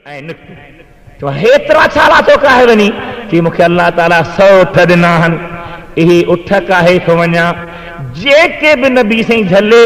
ائين نڪتي، چوڻ هيترا ڇالا توکي آهي وڃي؟ چي مونکي الله تعاليٰ سؤ اٺ ڏنا آهن، اهي اٺ ڪاهي ٿو وڃان، جيڪي به نبي سائين جهلي،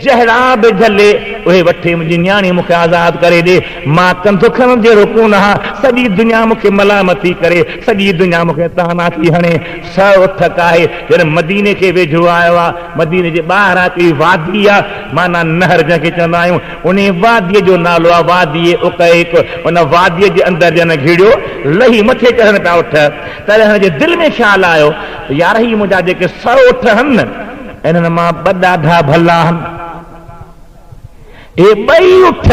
جهڙا به جهلي، اهي وٺي منهنجي نياڻي مونکي آزاد ڪري ڏي، مان ڪنڌ کڻڻ جهڙو ڪونه آهان، سڄي دنيا مونکي ملامت ٿي ڪري، سڄي دنيا مونکي طعنا ٿي هڻي، سؤ اٺ ڪاهي، جڏهن مديني کي ويجهو آيو آ، مديني جي ٻاهران هڪڙي وادي آ، معنيٰ نهر جنهن کي چوندا آهيون، انهيء واديء جو نالو آهي وادي عقيق. ان واديء جي اندر ڄڻ گهڙيو لهي مٿي چڙهن پيا اٺ. تڏهن هن جي دل ۾ خيال آيو ته يار هي منهنجا جيڪي سؤ اٺ هن نه، انهن مان ٻه ڏاڍا ڀلا آهن. اهي ٻئي اٺ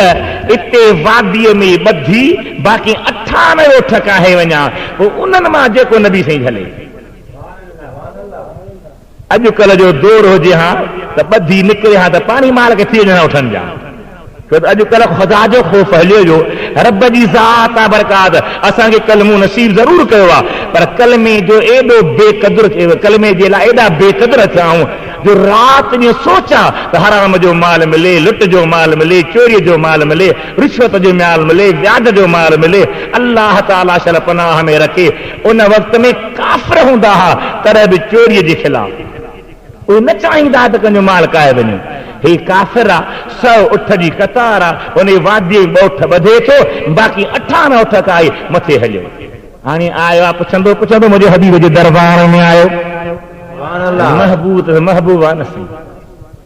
اتي واديء ۾ ئي ٻڌي باقي اٺانوي اٺ ڪاهي وڃان، پوء انهن مان جيڪو نبي سائين جهلي. اڄ ڪلهه جو دور هجي ها ته ٻڌي نڪري ها ته پاڻهي مار کي ٿي وڃن ها اٺن جا ڇو ته اڄ ڪلهه خدا جو خوف هليو ويو رب جي ذات آ برڪات اسان کي ڪلمو نصيب ضرور ڪيو آ پر ڪلمي جو ايڏو بي قدر ڪلمي جي لاء ايڏا بي قدر ٿيا آهون جو رات ڏينهن سوچان ته حرام جو مال ملي لٽ جو مال ملي چوري جو مال ملي رشوت جو مال ملي وياج جو مال ملي الله تعالي شل پناهه ۾ رکي ان وقت ۾ ڪافر هوندا ها تڏهن به چوري جي خلاف اهي نه چاهيندا ها ته ڪنهن جو مال کائي وڃي. هي ڪافر آ، سؤ اٺ جي قطار آ، ان واديء ۾ ٻه اٺ ٻڌي ٿو، باقي اٺارهن اٺ کائي مٿي هليو. هاڻي آيو آ پڇندو پڇندو منهنجي حبيب جي دربار ۾ آيو. محبوب ته محبوب آ نه سائين.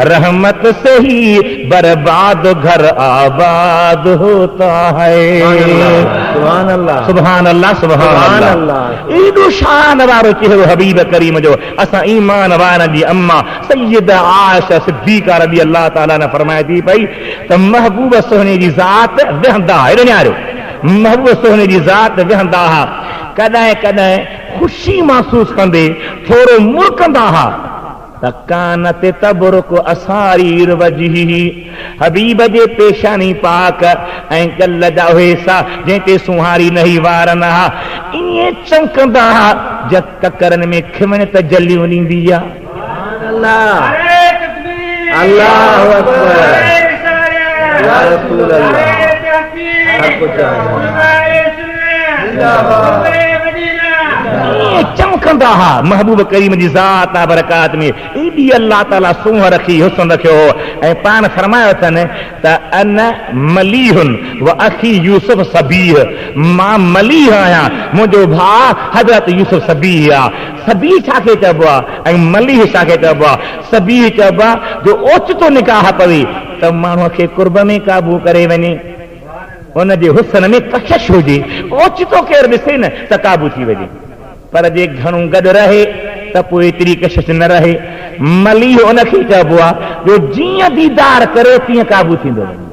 رحمت سي هي برباد گهر آباد هوتا هي. سبحان الله سبحان الله ايڏو شان وارو چهرو حبيب ڪريم جو اسان ايمان وارن جي اما سيده عائشه صديقه رضي الله تعالٰي عنها فرمائي ٿي پئي ته محبوب سهڻي جي ذات ويهندا هئا ايڏو نيارو محبوب سهڻي جي ذات ويهندا هئا ڪڏهن ڪڏهن خوشي محسوس ڪندي ٿورو مرڪندا هئا فڪانت تبرق اسارير وجهه، حبيب جي پيشاني پاڪ ۽ ڳل جا اهي حصا جنهن تي سونهاري نهي وار نه ها ائين چمڪندا ها جئن ڪڪرن ۾ کمڻ تجليون ڏيندي ها. ائين چمڪندا ها محبوب ڪريم جي ذات آ برڪات ۾ ايڏي الله تعالي سونهن رکي حسن رکيو هو ۽ پاڻ فرمايو اٿن ته انا مليح و اخي يوسف سبيح مان مليح آهيان منهنجو ڀاء حضرت يوسف سبيح آ سبيح ڇا کي چئبو آ ۽ مليح ڇا کي چئبو آ سبيح چئبو آ جو اوچتو نڪاح پوي ته ماڻهو کي قرب ۾ قابو ڪري وڃي ان جي حسن ۾ ڪشش هجي، اوچتو ڪير ڏسي نه ته قابو ٿي وڃي، پر جي گهڻو گڏ رهي ته پوء ايتري ڪشش نه رهي. مليح ان کي چئبو آهي جو جيئن ديدار ڪري تيئن قابو ٿيندو وڃي.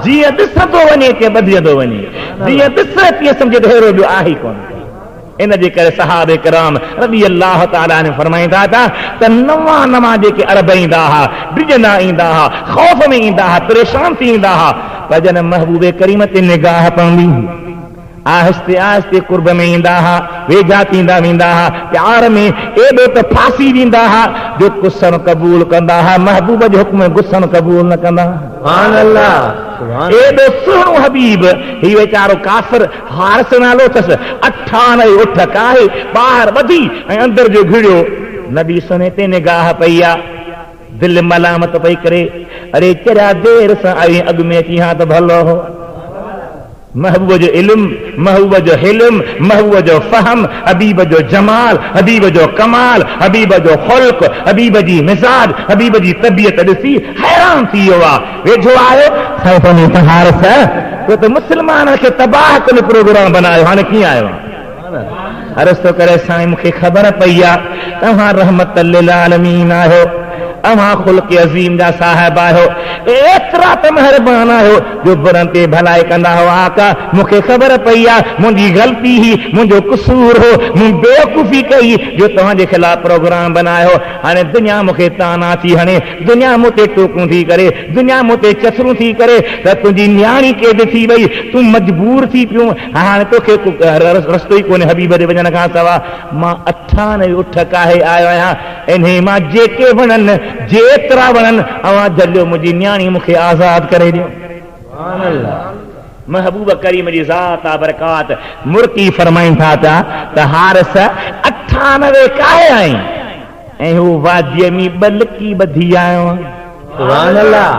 جيئن ڏسندو وڃي تيئن ٻڌجندو وڃي. جيئن ڏسي تيئن سمجهي ته ههڙو ٻيو آهي ئي ڪونه. ان جي ڪري صحابه ڪرام رضي الله تعالٰي عنهم فرمائين ٿا ته ته نوان نوان جيڪي عرب ايندا ها، ڊڄندا ايندا ها، خوف ۾ ايندا ها، پريشان ٿي ايندا ها، پر جڏهن محبوب ڪريم تي نگاهه پوندي هئي، آهستي آهستي قرب ۾ ايندا ها، ويجها ٿيندا ويندا ها، پيار ۾ ايڏو ته ڦاسي ويندا ها جو قسم قبول ڪندا ها، محبوب جو حڪم غصن قبول نه ڪندا ها. ايڏو سهڻو حبيب، هي ويچارو ڪافر، حارث نالو اٿس، اٺان ۽ اٺ ڪاهي ٻاهر ٻڌي ۽ اندر جو گهڙيو، نبي سنهي تي نگاهه پئي آ، دل ملامت پئي ڪري، اڙي چريا دير سان آيو هين اڳ ۾ اچي ها ته ڀلو هو. محبوب جو علم، محبوب جو حلم، محبوب جو فهم، حبيب جو جمال، حبيب جو ڪمال، حبيب جو خلق، حبيب جي مزاج، حبيب جي طبيعت ڏسي حيران ٿي ويو آ. ويجهو آهي سائين پنهنجي سهارس تو ته مسلمانن کي تباهه ڪن پروگرام بنايو هاڻي ڪيئن آيو آهين عرض ٿو ڪري سائين مون کي خبر پئي آ توهان رحمت للعالمين آهيو اوهان خلق عظيم جا صاحب آهيو ايترا ته مهربان آهيو جو برن تي ڀلائي ڪندا هو آقا مون کي خبر پئي آ منهنجي غلطي هي منهنجو قصور هو مون بيوقوفي ڪئي جو توهان جي خلاف پروگرام بنايو هاڻي دنيا مون کي طعنا ٿي هڻي دنيا مون تي ٽوڪون ٿي ڪري، دنيا مون تي چٿرون ٿي ڪري ته تنهنجي نياڻي قيد ٿي وئي، تون مجبور ٿي پيو، هاڻ توکي ڪو رستو ئي ڪونهي حبيب ڏي وڃڻ کان سوا، مان اٺان ۽ اٺ ڪاهي آيو آهيان، انهيء مان جيڪي وڻن، جيترا وڻن، اوهان جهليو، منهنجي نياڻي مون کي آزاد ڪري ڏيو. سبحان الله! محبوب ڪريم جي ذات آ برڪات مرڪي فرمائين ٿا پيا ته حارث! اٺان وي ڪاهي آئين؟ ۽ هو واديء ۾ ٻه لڪي ٻڌي آيو آهيان. سبحان الله!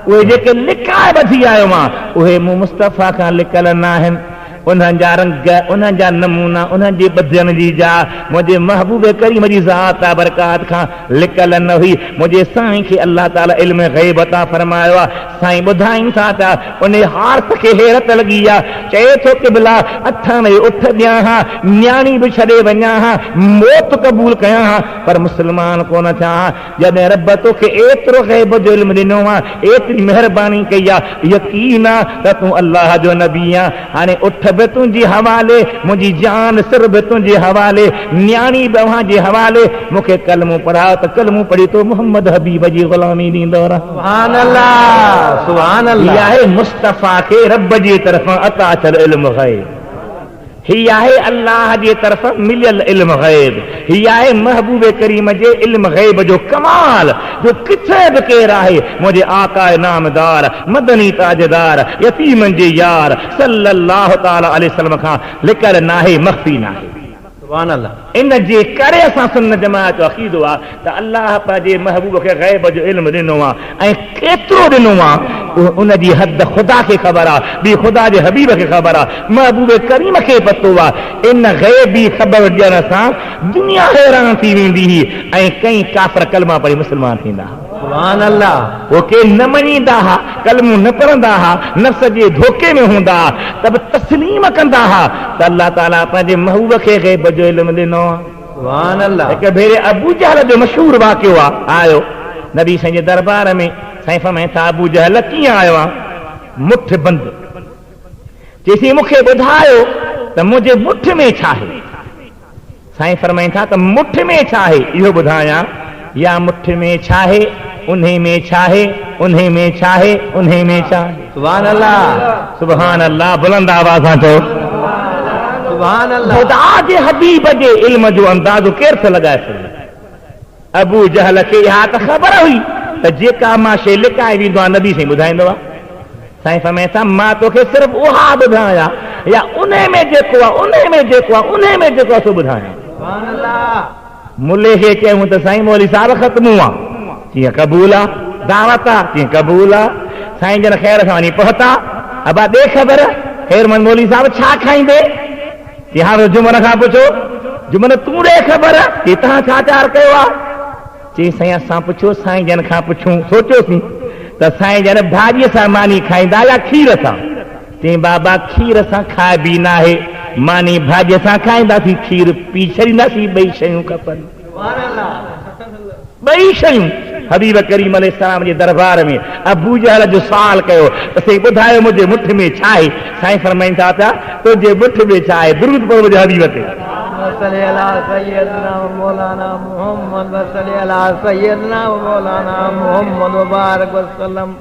اهي جيڪي لڪائي ٻڌي آيو آهيان، اهي مون مصطفيٰ کان لڪل ناهن. انهن جا رنگ، انهن جا نمونا، انهن جي ٻڌڻ جي جاء، منهنجي محبوب ڪريم جي ذات بابرڪات کان لڪل نه هئي. منهنجي سائين کي الله تعاليٰ علم غيب عطا فرمايو آهي. سائين ٻڌائين ٿا ته ان عارت کي حيرت لڳي آ، چئي ٿو قبلا! اٿڻ ۽ اٺ ڏيان ها، نياڻي به ڇڏي وڃان ها، موت قبول ڪيان ها، پر مسلمان ڪونه ٿيان ها، جڏهن رب توکي ايترو غيب جو علم ڏنو آ، ايتري مهرباني ڪئي آ، يقين آ ته تون الله جو نبي آن. هاڻي اٺ به تنهنجي حوالي، منهنجي جان سر به تنهنجي حوالي، نياڻي به اوهان جي حوالي، مون کي ڪلمو پڙهاء ته ڪلمو پڙهي تو محمد حبيب جي غلامي ڏيندو رهان. سبحان الله سبحان الله. هي آهي مصطفيٰ کي رب جي طرفان عطا ٿيل علم غيب. هي آهي الله جي طرفان مليل علم غيب. هي آهي محبوب ڪريم جي علم غيب جو ڪمال جو ڪٿي به ڪير آهي منهنجي آقا نامدار مدني تاجدار يتيمن جي يار صلّي الله تعالٰي عليه وسلّم کان لڪل ناهي مخفي ناهي. سبحان الله. ان جي ڪري اسان سنّت جماعت جو عقيدو آ ته الله پنهنجي محبوب کي غيب جو علم ڏنو آ ۽ ڪيترو ڏنو مان، ان جي حد خدا کي خبر آ، ٻي خدا جي حبيب کي خبر آ، محبوب ڪريم کي پتو آ، ان غيبي خبر ڏيڻ سان دنيا حيران ٿي ويندي هئي ۽ ڪئين ڪافر ڪلما پڙهي مسلمان ٿيندا ها. سبحان الله! هو ڪي نه مڃيندا ها، ڪلمو نه پڙهندا ها، نفس جي ڌوڪي ۾ هوندا ها ته به تسليم ڪندا ها ته الله تعالي پنهنجي محبوب کي غيب جو علم ڏنو آ. هڪ ڀيري ابو جهل جو مشهور واقعو آيو نبي سائين جي دربار ۾ سائين فرمائن ٿا ابو جهل ڪيئن آيو آن مٺ بند چئي سائين مون کي ٻڌايو ته منهنجي مٺ ۾ ڇا آهي سائين فرمائن ٿا ته مٺ ۾ ڇا آهي اهو ٻڌايان يا مٺ ۾ ڇاهي، انهي ۾ ڇاهي، انهي ۾ ڇاهي، انهي ۾ ڇاهي. سبحان الله. سبحان الله بلند آواز سان چئو. سبحان الله. خدا جي حبيب جي علم جو اندازو ڪير ٿو لڳائي سگهي. ابو جهل کي اها ته خبر هئي ته جيڪا مان شيء لڪائي ويندو آهيان نبي سائين ٻڌائيندو آهي. سائين فرمائين ٿا مان توکي صرف اها ٻڌايا يا انهي ۾ جيڪو آهي، انهي ۾ جيڪو آهي، انهي ۾ جيڪو آهي سو ٻڌايان. سبحان الله. ملي کي چيون ته سائين مولوي صاحب خط مون وان چيئن قبول آ دعوت آ چيئن قبول آ سائين جن خير سان وڃي پهتا ابا ڏي خبر خيرمند مولوي صاحب ڇا کائيندي چي هاڻ ته جمن کان پڇو جمن تون ڏي خبر چي تهان ڇا تيار ڪيو آ چي سائين اسان پڇو سائين جن کان پڇون سوچيوسين ته سائين جن ڀاڄي سان ماني کائيندا يا کير سان تنهن بابا کير اسان کائبي ناهي، ماني ڀاڄي سان کائينداسين کير پي ڇڏينداسين ٻئي شيون کپن ٻئي شيون حبيب ڪريم عليه السلام جي دربار ۾ ابو جهل جو سوال ڪيو ته سائين ٻڌايو منهنجي مٺ ۾ ڇا آهي سائين فرمائين ٿا ته تنهنجي مٺ ۾ ڇا آهي درود پڙهه منهنجي حبيب تي. اللهم صل علي سيدنا ومولانا محمد وصل علي سيدنا ومولانا محمد وبارڪ وسلم.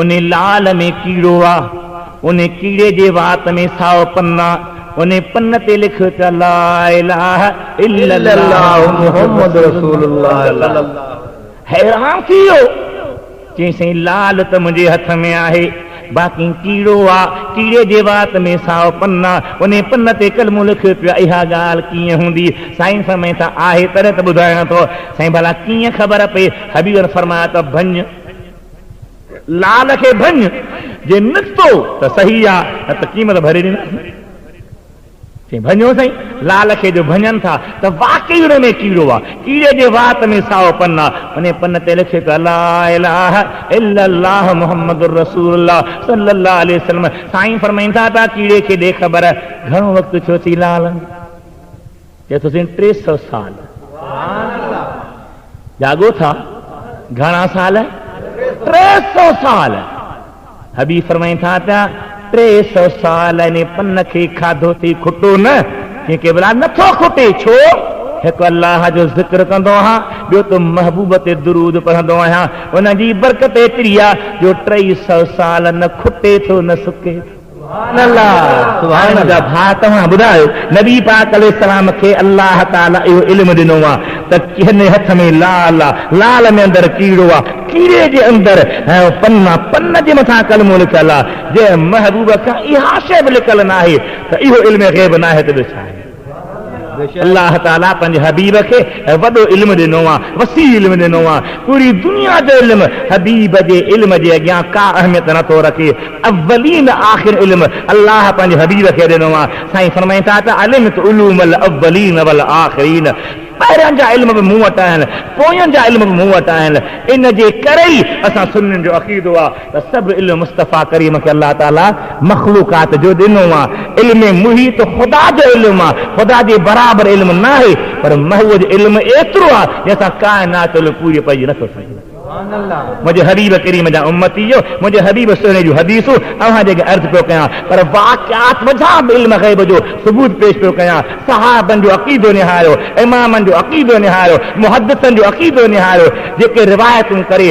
ان لعل ۾ ڪيڙو آ، ان ڪيڙي جي وات ۾ سائو پن آ، ان پن تي لک ته لا اله الا الله محمد رسول الله. حيران ٿي ويو، چيائين سائين لعل ته منهنجي هٿ ۾ آهي، باقي ڪيڙو آ، ڪيڙي جي وات ۾ سائو پن آ، ان پن تي ڪلمو لک ته اها ڳالهه ڪيئن هوندي؟ سائين فرمائين ته آهي تڏهن ته ٻڌايان ٿو. سائين ڀلا ڪيئن خبر پئي؟ حبيب فرمايو ته ڀڃ! لال کي ڀڃ، جي نڪتو ته صحيح آ، نه ته قيمت ڀري ڏينداسين. چيائين، ڀڃو سائين! لال کي جو ڀڃن ٿا ته واقعي ان ۾ ڪيڙو آ. ڪيڙي جي وات ۾ سائو پن آ. انهيء پن تي لکيو پيو آ، لا اله الا الله محمد رسول الله صلي الله عليه وسلم. سائين فرمائين ٿا ته ڪيڙي کي ڏي خبر، گهڻو وقت ڇو ٿي لال؟ چئي ٿو سائين ٽي سئو سال. جاڳو ٿا گهڻا سال؟ ٽي سئو سال. حبيب فرمائين ٿا پيا ٽي سئو سال ان پن کي کاڌو ٿي کٽو نه چئي قبلا نٿو کٽي ڇو؟ هڪ الله جو ذڪر ڪندو آهيان ٻيو ته محبوب تي درود پڙهندو آهيان ان جي برڪت ايتري آهي جو ٽي سئو سال نه کٽي ٿو نه سڪي ٿو. سبحان الله سبحان الله منهنجا ڀاء توهان ٻڌايو نبي پاڪ عليه السلام کي الله تعالي اهو علم ڏنو آ ته ڪنهن هٿ ۾ لال آ لال ۾ اندر ڪيڙو آ ڪيڙي جي اندر پن آ پن جي مٿان ڪلمو لکيل آ جي محبوب کان اها شئي به لڪل ناهي ته اهو علم غيب ناهي ته ٻيو ڇا آهي. الله تعالي پنهنجي حبيب کي وڏو علم ڏنو آهي، وسيع علم ڏنو آهي، پوري دنيا جو علم حبيب جي علم جي اڳيان ڪا اهميت نه ٿو رکي، اولين آخر علم الله پنهنجي حبيب کي ڏنو آهي، سائين فرمائين ٿا ته علمت علوم الاولين والآخرين پهرين جا علم به مون وٽ آهن، پوئين جا علم به مون وٽ آهن، ان جي ڪري ئي اسان سنين جو عقيدو آهي. ته سڀ علم مصطفيٰ ڪريم کي الله تعاليٰ مخلوقات جو ڏنو آ. علم محيط خدا جو علم آ، خدا جي برابر علم ناهي، پر محو جو علم ايترو آ جنهن سان ڪائنات جو علم پوري پئجي نٿو سگهي. منهنجي حبيب ڪريم جا امتيو، منهنجي حبيب سهڻي جون حديثون اوهان جي اڳيان عرض پيو ڪيان، پر واقعات وجهان به علم غيب جو ثبوت پيش پيو ڪيان، صحابن جو عقيدو نهاريو، امامن جو عقيدو نهاريو، محدثن جو عقيدو نهاريو، جيڪي روايتون ڪري،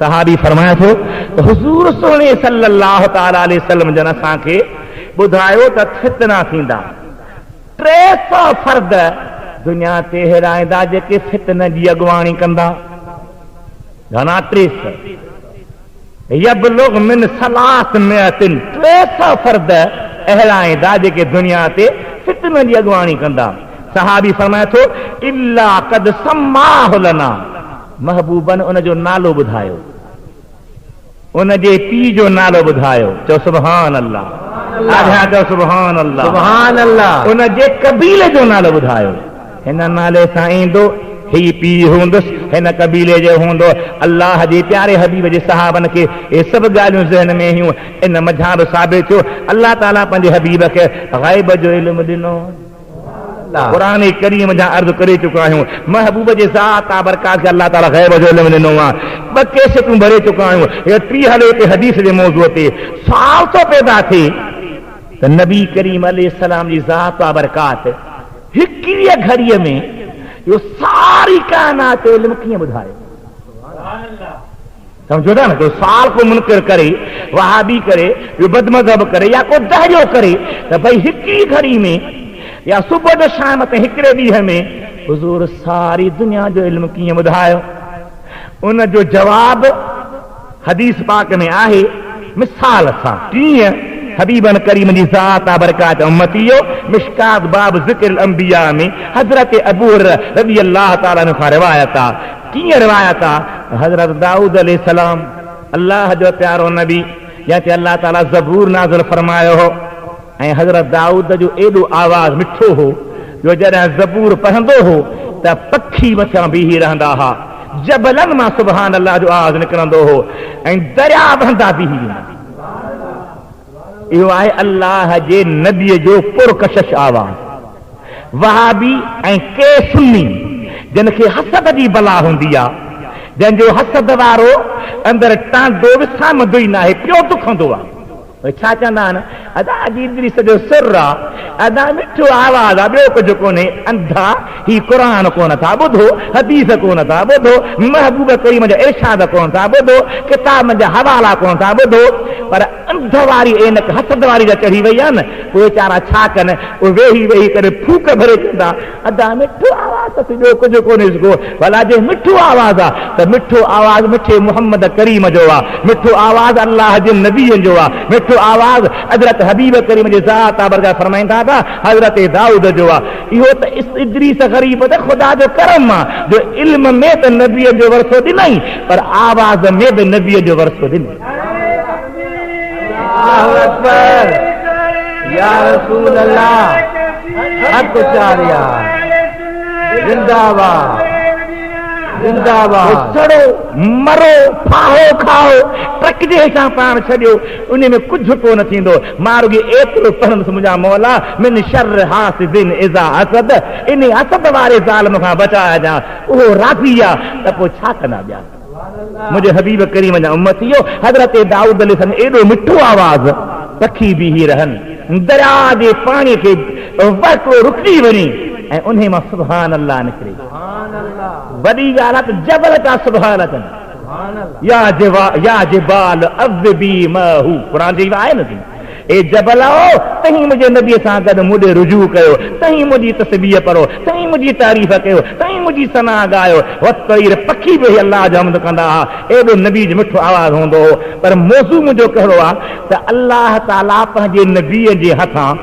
صحابي فرمائي ٿو ته حضور سهڻي صلّي الله تعالٰي عليه وسلّم جن اسان کي ٻڌايو ته فتنا ٿيندا، ٽي سؤ فرد دنيا تي ههڙا ايندا جيڪي فتنن جي اڳواڻي ڪندا، گهڻا ٽي سؤ. يبلغ من ثلاث مئة ٽي سئو فرد اهڙا آهن دا جيڪي دنيا تي فتنن جي اڳواڻي ڪندا. صحابي فرمائي ٿو، الا قد سماه لنا محبوبا ان جو نالو ٻڌايو، ان جي پيء جو نالو ٻڌايو، چؤ سبحان الله، آجيان چؤ سبحان الله، ان جي قبيلي جو نالو ٻڌايو. هن نالي سان ايندو، هي پيء هوندس، هن قبيلي جو هوندو. الله جي پياري حبيب جي صحابن کي اهي سڀ ڳالهيون ذهن ۾ هيون. ان منجهان به ثابت ٿيو الله تعاليٰ پنهنجي حبيب کي غيب جو علم ڏنو. قرآن ڪريم جا عرض ڪري چڪا آهيون محبوب جي ذات تابرڪات کي الله تعاليٰ غيب جو علم ڏنو آهي. ٻه ڪيسيٽون ڀري چڪا آهيون. هيء ٽي هلي پئي حديث جي موضوع تي. سوال ٿو پيدا ٿئي ته نبي ڪريم عليه السلام جي ذات تابرڪات هڪڙيء گهڙيء ۾ اهو ساري ڪائنات علم ڪيئن ٻڌائي؟ سمجهو ٿا نه ڪو سوال ڪو منڪر ڪري، وهابي ڪري، ٻيو بدمذهب ڪري يا ڪو دهريو ڪري ته ڀئي هڪڙيء گهڙي ۾ يا صبح جو شام تائين هڪڙي ڏينهن ۾ حضور ساري دنيا جو علم ڪيئن ٻڌايو؟ ان جو جواب. حديث پاڪ ۾ آهي، مثال سان، ٽينء حبيبن ڪريمن جي ذات آ برڪات امتيء، مشڪات باب ذڪر الانبياء ۾ حضرت ابو هريره رضي الله تعالٰي عنه کان روايت آ، ٽينء روايت آ، حضرت دائود عليه السلام، الله جو پيارو نبي، جنهن تي الله تعالٰي زبور نازل فرمايو هو. ۽ حضرت دائود جو ايڏو آواز مٺو هو جو جڏهن زبور پڙهندو هو ته پکي مٿيان بيهي رهندا ها، جبلن مان سبحان الله جو آواز نڪرندو هو ۽ درياء وهندا بيهي ويندا ها. اهو آهي الله جي نبي جو پرڪشش آواز. وهابي ۽ ڪي سني جن کي حسد جي بلا هوندي آ، جنهن جو حسد وارو اندر ٽانڊو وسامندو ئي ناهي، پيو دکندو آ. اهي ڇا چوندا آهن ادا اڄ ادريس جو سر آ ادا مٺو آواز آ ٻيو ڪجهه ڪونهي انڌا هي قرآن ڪونه ٿا ٻڌو حديث ڪونه ٿا ٻڌو محبوب ڪريم جا ارشاد ڪونه ٿا ٻڌو ڪتابن جا حوالا ڪونه ٿا ٻڌو پر انڌ واري عينڪ حسد واري جا چڙهي وئي آ نه پوء ويچارا ڇا ڪن اهي ويهي ويهي ڪڏهن ڦوڪ ڀري چوندا ادا مٺو آواز ته سي ٻيو ڪجهه ڪونهي سگهو ڀلا جي مٺو آواز آ ته مٺو آواز مٺي محمد ڪريم جو آ مٺو آواز الله جي نبي جو آ مٺو آواز حضرت حبيب ڪريم جي ذات آ برگاهه فرمائين ٿا ته حضرت دائود جو آ اهو ته ادريس غريب ته خدا جو ڪرم آ جو علم ۾ ته نبين جو ورثو ڏنائين پر آواز ۾ به نبين جو ورثو ڏنائين. مرو ڦاهو کائو ٽرڪ جي هيٺان پاڻ ڇڏيو ان ۾ ڪجهه ڪونه ٿيندو مان رڳي ايترو پڙهندس منهنجا مولا من شر حاسد اذا حسد انهي حسد واري ظالم کان بچائجان اهو راضي آ ته پوء ڇا ڪندا ٻيا. منهنجي حبيب ڪريم جا امتيو! حضرت دائود عليه السلام ايڏو مٺو آواز پکي بيهي رهن، درياء جي پاڻي کي وهڪرو رڪجي وڃي ۽ انهي مان سبحان الله نڪري. وڏي ڳالهه آهي ته جبل پيا سبحان اچن. يا جبال اوبي ماءه قرآن جي آهي نه. اي جبلاء! توهين منهنجي نبيء سان گڏ مون ڏي رجوع ڪيو، توهين منهنجي تسبيح پڙهو، توهين منهنجي تعريف ڪيو، توهين منهنجي ثنا ڳايو. والطير پکي به اهي الله جو حمد ڪندا ها. ايڏو نبيء جو مٺو آواز هوندو هو. پر موضوع منهنجو ڪهڙو آ ته الله تعاليٰ پنهنجي نبيء جي هٿان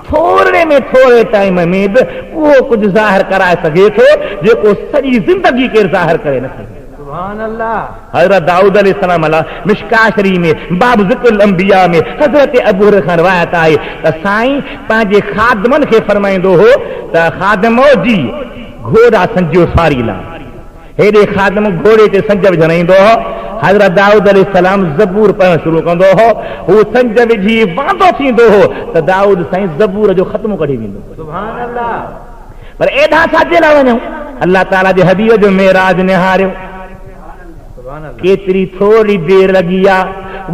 ٿورڙي ۾ ٿورڙي ٽائيم ۾ به اهو ڪجهه ظاهر ڪرائي سگهي ٿو، جيڪو سڄي زندگي ڪير ظاهر ڪري نه سگهيو. سبحان الله. حضرت دائود عليه السلام الله مشڪاة شريف ۾ باب ذڪر الانبياء ۾ حضرت ابو هريره کان روايت آهي ته سائين پنهنجي خادمن کي فرمائيندو هو ته خادمؤ جي گهوڙا سنجيو سواري لاء هيڏي خادم گهوڙي تي سنج وجهڻ ايندو هو حضرت دائود عليه السلام زبور پڙهڻ شروع ڪندو هو هو سنج وجهي واندو ٿيندو هو ته دائود سائين زبور جو ختمو ڪڍي ويندو هو سبحان الله. پر ايڏانهن ڇا جي لاء وڃون؟ الله تعاليٰ جي حبيب جو معراج نهاريو. ڪيتري ٿوري دير لڳي آ،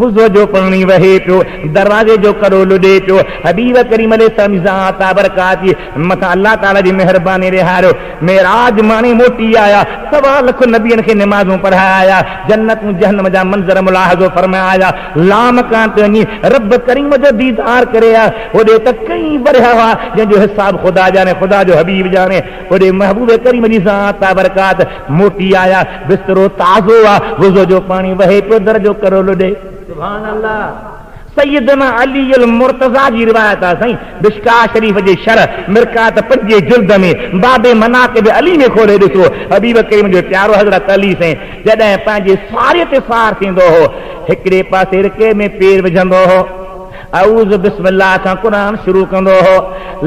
وضوء جو پاڻي وهي پيو، دروازي جو ڪرو لڏي پيو، حبيب ڪريم عليه السلام جي ذات آ برڪات جي مٿان الله تعاليٰ جي مهرباني رهاريو، معراج ماڻي موٽي آيا، سوا لک نبين کي نمازون پڙهائي آيا، جنتون جهنم جا منظر ملاحظو فرمائي آيا، لامڪان تي وڃي رب ڪريم جو ديدار ڪري ها، هوڏي ته ڪئين ورهيه هئا، جنهن جو حساب خدا ڄاڻي، خدا جو حبيب ڄاڻي. هوڏي محبوب ڪريم جي ذات تابرڪات موٽي آيا، بسترو تازو آ، وضو جو پاڻي وهي پيو، در جو ڪرو لڏي. سبحان الله! سيدنا علي المرتضيٰ جي روايت آ سائين، مشڪاة شريف جي شرح مرقات پنجين جلد ۾، باب مناقب علي ۾ کولي ڏسو، حبيب ڪريم جو پيارو حضرت علي سائين، جڏهن پنهنجي ساريء تي سار ٿيندو هو، هڪڙي پاسي رڪي ۾ پير وجهندو هو. اعوذ بسم الله کان قرآن شروع ڪندو هو.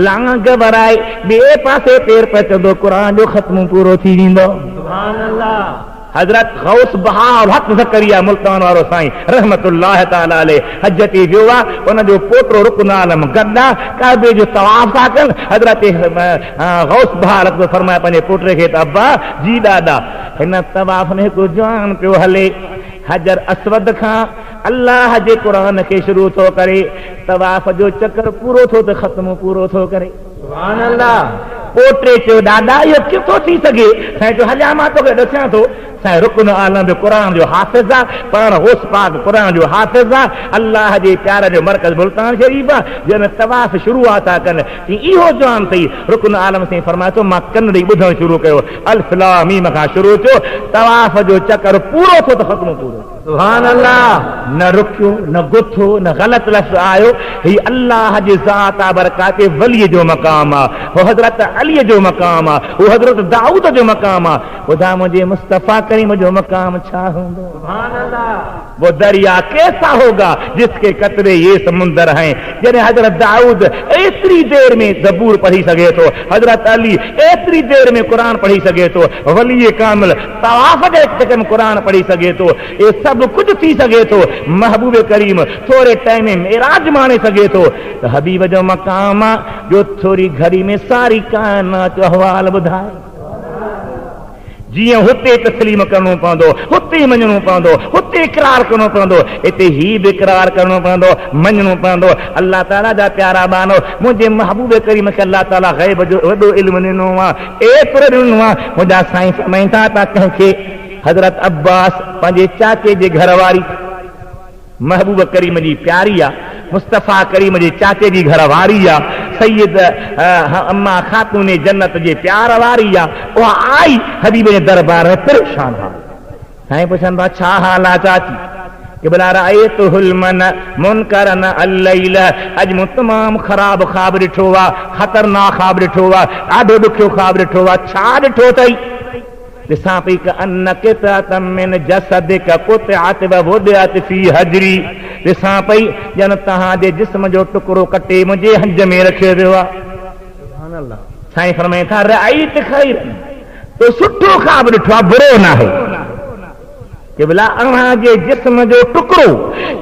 لانگ ورائي ٻئي پاسي پير پچندو، قرآن جو ختمو پورو ٿي ويندو. حضرت غوث بهاءالحق زڪريا ملتان وارو سائين رحمة الله تعالٰي عليه حج تي ويو آ، ان جو پوٽو رڪن عالم گڏ آ، ڪعبي جو طواف ٿا ڪن، حضرت غوث بهاءالحق ٿو فرمائي پنهنجي پوٽي کي ته ابا جي ڏاڏا! هن طواف ۾ هڪ جوان پيو هلي حجر اسود کان الله جي قرآن کي شروع ٿو ڪري طواف جو چڪر پورو ٿو ته ختمو پورو ٿو ڪري. سبحان الله پوٽي چيو ڏاڏا اهو ڪيئن ٿو ٿي سگهي سائين چيو هليا مان توکي ڏسيان ٿو سائين رڪن عالم به قرآن جو حافظ آ پاڻ غوث پاڪ قرآن جو حافظ آ الله جي پيارن جو مرڪز ملتان شريف آ جي ۾ طواف شروع آ ٿا ڪن تي اهو جوان ٿئي رڪن عالم سائين فرمائي ٿو مان ڪن ڏئي ٻڌڻ شروع ڪيو الف لام ميم کان شروع ٿيو طواف جو چڪر پورو ٿيو ته ختمو پورو ٿيو سبحان الله نه رڪيو نه گٿو نه غلط لفظ آيو هي الله جي ذات آ برڪات ولي جو مقام آ هو حضرت علي جو مقام آ هو حضرت دائود جو مقام آ ٻڌاء منهنجي مصطفي ڪريم جو مقام ڇا هوندو سبحان الله وو دريا ڪيسا هوگا جس ڪي قطري يي سمندر هين جڏهن حضرت دائود ايتري دير ۾ زبور پڙهي سگهي ٿو حضرت علي ايتري دير ۾ قرآن پڙهي سگهي ٿو ولي ڪامل طواف جي هڪ سيڪنڊ ۾ قرآن پڙهي سگهي ٿو اهي سڀ ڪجهه ٿي سگهي ٿو محبوب ڪريم ٿوري ٽائيم ۾ معراج ماڻي سگهي ٿو ته حبيب جو مقام آ جو ٿوري گهڙي ۾ ساري ڪائنات جو احوال ٻڌائي. جيئن هتي تسليم ڪرڻو پوندو، هتي ئي مڃڻو پوندو، هتي اقرار ڪرڻو پوندو، هتي هي به اقرار ڪرڻو پوندو، مڃڻو پوندو. الله تعاليٰ جا پيارا ٻانهو! منهنجي محبوب ڪريم کي الله تعاليٰ غيب جو وڏو علم ڏنو آ، ايترو ڏنو آ، منهنجا سائين فرمائين ٿا ته ڪنهن کي حضرت عباس پنهنجي چاچي جي گهر واري، محبوب ڪريم جي پياري آ. مصطفيٰ ڪريم جي چاچي جي گهر واري آ. سيد اما خاتون جنت جي پيار واري آ. اها آئي حبيب جي دربار ۾ پريشان حال. سائين پڇن ٿا ڇا حال آ چاچي؟ قبلا رأيت حلما منڪرا الليل اڄ مون تمام خراب خواب ڏٺو آ. خطرناڪ خواب ڏٺو آ. ڏاڍو ڏکيو خواب ڏٺو آ. ڇا ڏٺو اٿئي؟ ڏسان پئي ڪأن قطعة من جسدک قطعت ووضعت في حجري، ڏسان پئي ڄڻ توهان جي جسم جو ٽڪرو ڪٽي منهنجي هنج ۾ رکيو ويو آ. سبحان الله. سائين فرمائن ٿا، رأيت خيرا، تو سٺو خواب ڏٺو آ، برو ناهي. قبلا اوهان جي جسم جو ٽڪرو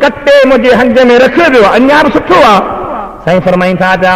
ڪٽي منهنجي هنج ۾ رکيو ويو آ، اڃا به سٺو آ. سائين فرمائن ٿا پيا.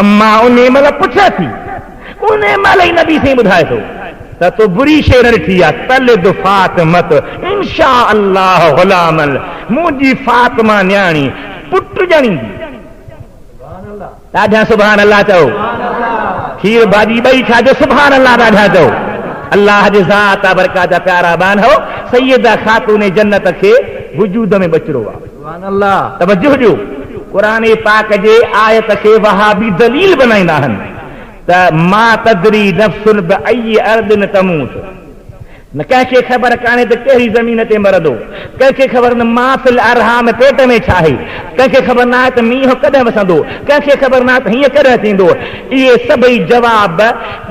اما انهي مهل پڇي ٿي، انهي مهل ئي نبي سائين ٻڌائي ٿو ته تو بري شيء نه ڏٺي آ، تلد فاطمة انشاء الله غلاما منهنجي فاطمه نياڻي پٽ ڄڻيندي. ڏاڍيان سبحان الله چئو. کير ڀاڄي ٻئي کائجو سبحان الله ڏاڍيان چئو. الله جي ذات آ برکات جا پيارا ٻانهو سيده خاتون جنت کي وجود ۾ ٻچڙو آ. سبحان الله توجه ڏيو قرآن پاڪ جي آيت کي وهابي دليل بنائيندا آهن ته ما تدري نفس بأي ارض تموت نه ڪنهن کي خبر ڪانهي ته ڪهڙي زمين تي مرندو ڪنهن کي خبر نه ما في الارحام پيٽ ۾ ڇا آهي ڪنهن کي خبر ناهي ته مينهن ڪڏهن وسندو ڪنهن کي خبر ناهي ته هيئن ڪڏهن ٿيندو اهي سڀئي جواب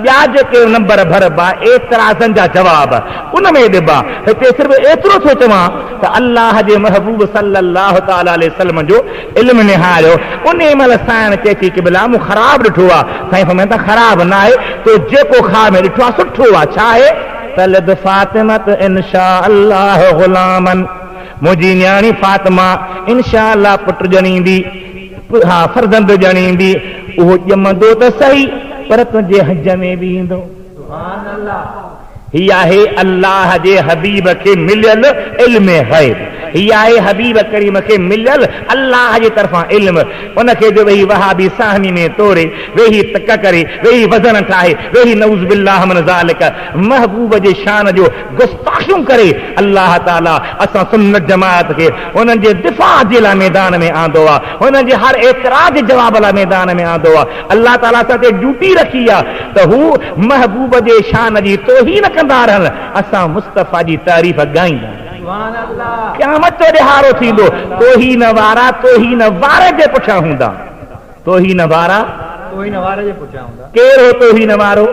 ٻيا جيڪي نمبر ڀربا اعتراضن جا جواب ان ۾ ڏبا هتي صرف ايترو ٿو چوان ته الله جي محبوب صلّي الله تعالٰي عليه وسلّم جو علم نهاريو، انهي مهل سائڻ چئي ٿي قبلا مون خراب ڏٺو آ، سائين فرمائن ٿا خراب نه آهي، تو جيڪو خواب ۾ ڏٺو آ سٺو آ، ڇا آهي؟ تلد فاطمة ان شاء الله غلامًا، منهنجي نياڻي فاطمه ان شاء الله پٽ ڄڻيندي، ها فرزند ڄڻيندي، اهو ڄمندو ته سهي پر تنهنجي حج ۾ به ايندو. هي آهي الله جي حبيب کي مليل علم غيب هي آهي حبيب ڪريم کي مليل الله جي طرفان علم ان کي جو ويهي وهابي ساهني ۾ توري ويهي تڪ ڪري ويهي وزن ٺاهي ويهي نعوذ بالله من ذالڪ محبوب جي شان جو گستاخيون ڪري الله تعالي اسان سنت جماعت کي انهن جي دفاع جي لاء ميدان ۾ آندو آهي انهن جي هر اعتراض جي جواب لاء ميدان ۾ آندو آهي الله تعالي اسان تي ڊيوٽي رکي آ ته هو محبوب جي شان جي توهين ڪندا رهن اسان مصطفيٰ جي تعريف ڳائيندا رهون. قيامت جو ڏهاڙو ٿيندو توهين وارا توهين واري جي پٺيان هوندا توهين وارا توهين واري جي پٺيان هوندا. ڪير هو توهين وارو؟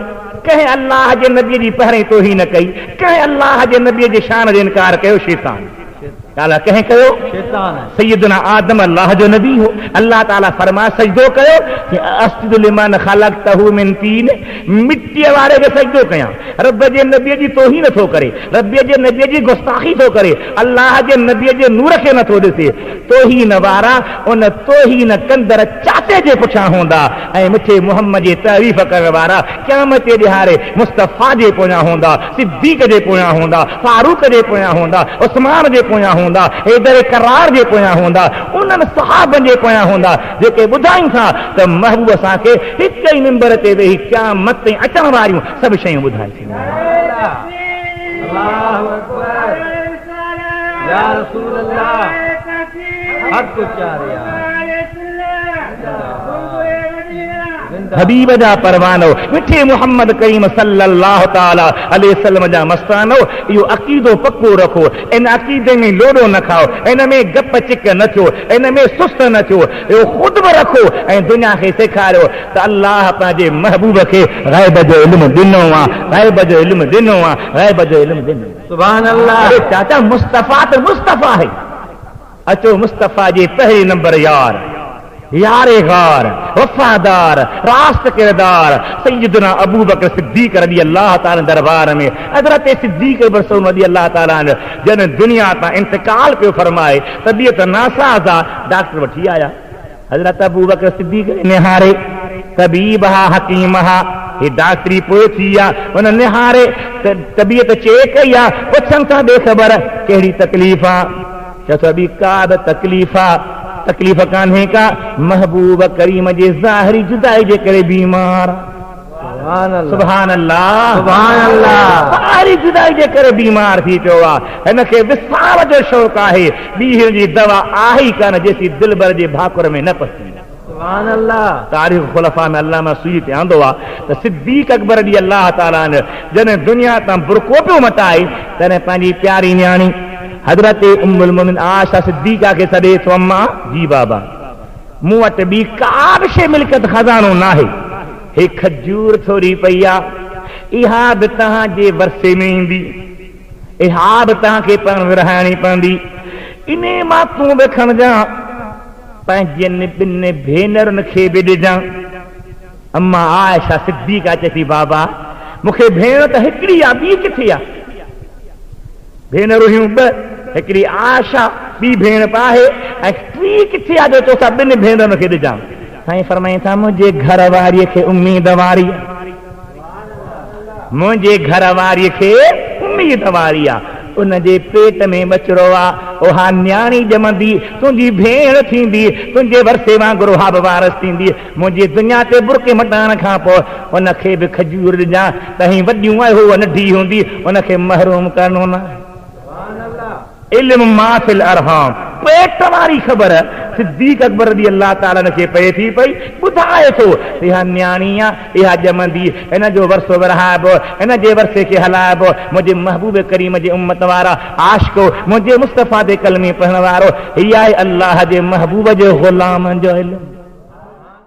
ڪنهن الله جي نبي جي پهرين توهين ڪئي ڪنهن الله جي نبي جي شان جو انڪار ڪيو شيطان. تعاليٰ ڪنهن ڪيو؟ سيدنا آدم الله جو نبي هو، الله تعاليٰ فرمايو سجدو ڪيو، چيائين ااسجد لمن خلقته من طين، مٽيء واري کي سجدو ڪيان، رب جي نبي جي توهين ٿو ڪري، رب جي نبي جي گستاخي ٿو ڪري، الله جي نبي جي نور کي نه ٿو ڏسي، توهين وارا ان توهين ڪندڙ چاٽي جي پٺيان هوندا ۽ مٺي محمد جي تعريف ڪرڻ وارا قيامت جي ڏهاڙي مصطفيٰ جي پويان هوندا. صديق جي پويان هوندا، فاروق جي پويان هوندا، عثمان جي پويان هوندا، حيدر ڪرار جي پويان هوندا، انهن صحابن جي پويان هوندا جيڪي ٻڌائين ٿا ته محبوب اسان کي هڪ ئي ممبر تي ويهي قيامت تائين اچڻ واريون سڀ شيون ٻڌائي ڇڏيون. حبيب جا پروانو، مٺي محمد ڪريم صلّي الله تعالٰي عليه وسلّم جا مستانو، اهو عقيدو پڪو رکو، ان عقيدي ۾ لوڏو نه کائو، ان ۾ گپ چڪ نه ٿيو، ان ۾ سست نه ٿيو، اهو خود به رکو ۽ دنيا کي سيکاريو ته الله پنهنجي محبوب کي غيب جو علم ڏنو آ، غيب جو علم ڏنو آ، غيب جو علم ڏنو آ. سبحان الله! اري چاچا مصطفٰي ته مصطفٰي آهي. اچو مصطفيٰ جي پهرين نمبر يار، يار غار، وفادار، راست ڪردار سيدنا ابوبڪر صديق رضي الله تعالٰي عنه دربار ۾ حضرت صديق ابن سعود رضي الله تعالٰي عنه جڏهن دنيا تان انتقال پيو فرمائي طبيعت ناساز آ ڊاڪٽر وٺي آيا حضرت ابوبڪر صديق کي نهاري، طبيب ها، حڪيم ها، هي ڊاڪٽري پوء ٿي آ، هن نهاري ته طبيعت چيڪ ڪئي آ، پڇن ٿا ڏي خبر ڪهڙي تڪليف آ؟ چئو ٿا ٻي ڪا به تڪليف آ، تڪليف ڪانهي ڪا، محبوب ڪريم جي ظاهري جدائي جي ڪري بيمار آ. سبحان الله ساري جدائي جي ڪري بيمار ٿي پيو آ هن کي وصال جو شوق آهي ڏينهن جي دوا آهي ئي ڪانه جيسين دلبر جي ڀاڪر ۾ نه پسي تاريخ خلفاء ۾ علامه سيوطي تي آندو آ ته صديق اڪبر رضي الله تعالٰي عنه جڏهن دنيا تان برقعو پيو مٽائي تڏهن پنهنجي پياري نياڻي حضرت ام المومنين عائشه صديقه کي سڏي ٿو اما جي بابا مون وٽ ٻي ڪا به شيء ملڪيت خزانو ناهي. هي کجور ٿوري پئي آهي. اها به توهان جي ورثي ۾ ايندي. اها به توهان کي پاڻ ورهائڻي پوندي. انهيء مان تون به کڻجان. پنهنجين ٻن ڀينرن کي به ڏجان. اما عائشه صديقه چئي ٿي، بابا! مون کي ڀيڻ ته هڪڙي آ، ٻي ڪٿي آ؟ ڀينرون هيون ٻه، هڪڙي عائشه ٻي ڀيڻ به آهي ۽ ٽي ڪٿي آ جو توسان ٻن ڀينرن کي ڏجان؟ سائين فرمائين ٿا منهنجي گهر واري کي اميد واري آ منهنجي گهر واري کي اميد واري آ ان جي پيٽ ۾ ٻچڙو آ اها نياڻي ڄمندي تنهنجي ڀيڻ ٿيندي تنهنجي ورثي وانگر اها به وارث ٿيندي منهنجي دنيا تي برقعي مٽائڻ کان پوء ان کي به کجور ڏجان تنهن وڏيون ۽ هوء ننڍي هوندي ان کي محروم ڪرڻو نه آهي. علم ما في الارحام، پيٽ واري خبر صديق اڪبر رضي الله تعالٰي عنه کي پئي ٿي پئي، ٻڌائي ٿو ته اها نياڻي آهي، اها ڄمندي، ان جو ورثو ورهائبو، ان جي ورثي کي هلائبو، منهنجي محبوب ڪريم جي امت وارا عاشقو! منهنجي مصطفيٰ تي ڪلمي پڙهڻ وارو، هي آهي الله جي محبوب جي غلامن جو علم.